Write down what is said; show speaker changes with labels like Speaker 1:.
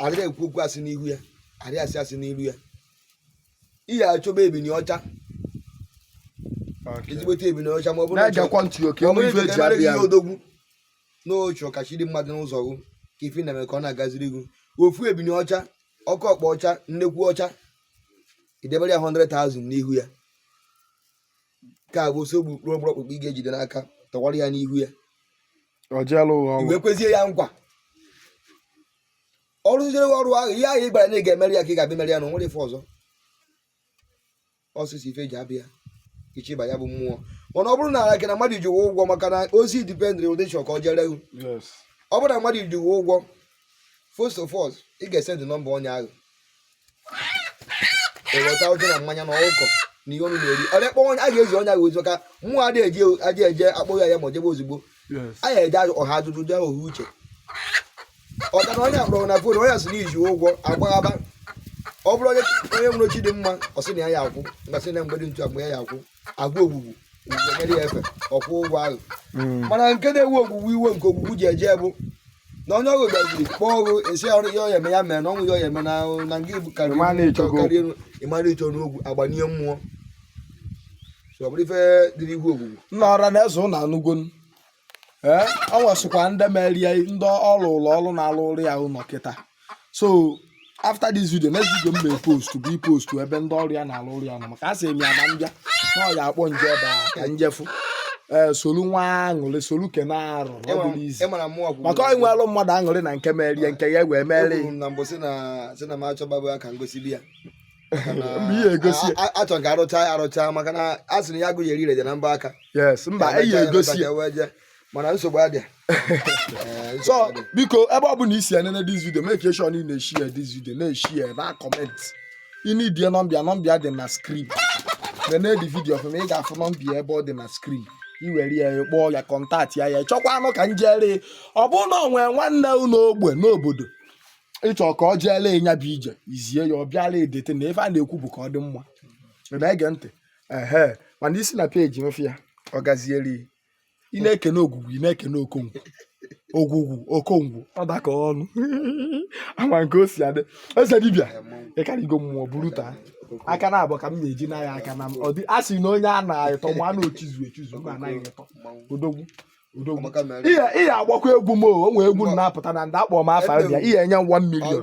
Speaker 1: adịghị ekwu okwu asị n'ihu ya adịghị asị asị n'iru ya ị ya-achọba ebini ọcha ezigbote ebini ọcha ma ọ bụrụ na ịchọ- na-egekwa ntị oke ọ enwe bụrụ ife na eji emere gị abịa ihe odogwu na ọ chọ ka chi dị mma dị n'ụzọ gụ ka ife ị na-eme ka ọ na-agaziri gị ofu ebini ọcha oke ọkpa ọcha nnekwu ọcha i debere ya 100,000 n'ihu ya nke a bụ osogbu mkpụrụ ọgbụrụ ọkpụkpụ ị ga-ejide n'aka tọwara ya n'ihu ya i wee kwezie ya nkwa ọrụ rụziere ọrụ ahụ ihe ahụ ị gwara na ị ga-emere ya ka ị ga-abịa mere ya na o nwere ife ọzọ ọsịsọ ife ji abịa ichiba ya bụ mmụọ mana ọ bụrụ na ala gị na mmadụ ji gị ụgwọ maka na ozi dipendịrị ụdị ị chọ ka ọ jere ihu ọ bụrụ na mmadụ ji gị ụgwọ first of all ị ga-esendị nọmba onye ahụ eweta ọjị na mmanya na ọkụkọ na ihe ọnụ na-eri ọrịa kpọọ a ga-eji ọnya gị ozu ka mmụọ adị eji aja eje akpọghị ya ma ọ jebe ozugbo a ya eje ọha ajụjụ jee ohu uche ọ ka na onye a kpọrọ na fon onye sị na i ji ụgwọ agbaghaba ọ bụrụ onye nwere chi dị mma ọ sị na ya ya akwụ mgbe sị na mgbede ntu agba ya ya akwụ a gwa ogwugwu nyere ya efe ọ kwụọ ụgwọ ahụ hmm. mana nke na-ewe ogwugwu iwe nke ogwugwu ji eje bụ na onye ahụ gaziri kpọọ gị sị ihe ọ ya-eme ya mee na o nweghị ihe ọ ya-eme na nke ibu karịrị elu ị mara ịchọ n'ogwu agbanye mmụọ ọ bụrụ ife dịrị ihu ogwugwu nna ọra na-eze ụlọ
Speaker 2: anụgonu ee ọ nwesịkwa ndị mere ya ndị ọ rụụrụ ọrụ na-alụrụ ya ụlọ kịta so after this video next video m na-epost bụ ipostu ebe ndị ọrụ ya na-alụrụ ya ụnọ maka a sị m ya na m bịa na ọ ya akpọ m jee ebe a ka m jee fụ ee solu nwa aṅụrị solu kene arụ ọ bụrụ izi ịmara mụ ọgwụ maka o nwere mmadụ aṅụrị na nke merie nke ya wee merie na mbụ si na
Speaker 1: si na m achọgbago ya ka m gosili ya
Speaker 2: mba ihe egosi ya a chọ ka a rụcha
Speaker 1: ya arụcha maka na a sị na ya agụghị eri reje na mbọ aka yes mba
Speaker 2: eyi egosi ya mana
Speaker 1: nsogbu adịa eh,
Speaker 2: so biko ebe ọ bụla i si enene this video make sure na ị na-eshare this video na-eshare na comment ị needie nọmba ya nọmba ya dị na screen nene the video ọfụma ị ga-afụ nọmba ya ebe ọ dị na screen i were ya kpọọ ya kọntaktị ya ya chọkwanụ ka m jere ọ bụrụ na ọ nwee nwanne unu ogbe n'obodo ị chọ ka ọ jeelụ ị nya bụ ije i zie ya ọ bịala edete na ife a na-ekwu bụ ka ọ dị mma na ege ntị ehe mana i si na peji m fụ ya ọ gaziere ị na-ekene ogwugwu ị na-ekene okongwu ogwugwu okongwu ọ daka ọnụ ama nke o si adị eze dibịa ị karịgo mmụọ buru taa aka na abụọ ka m na-eji na ya aka na m ọ dị a sị na onye a na-atọ ma a na-echizu echizu ma anaghị etọ odogwu ị ya-agbakwa egwu m o nwee egwu na-apụta na ndị akpọ m afa bịa ihe enye
Speaker 1: 1 million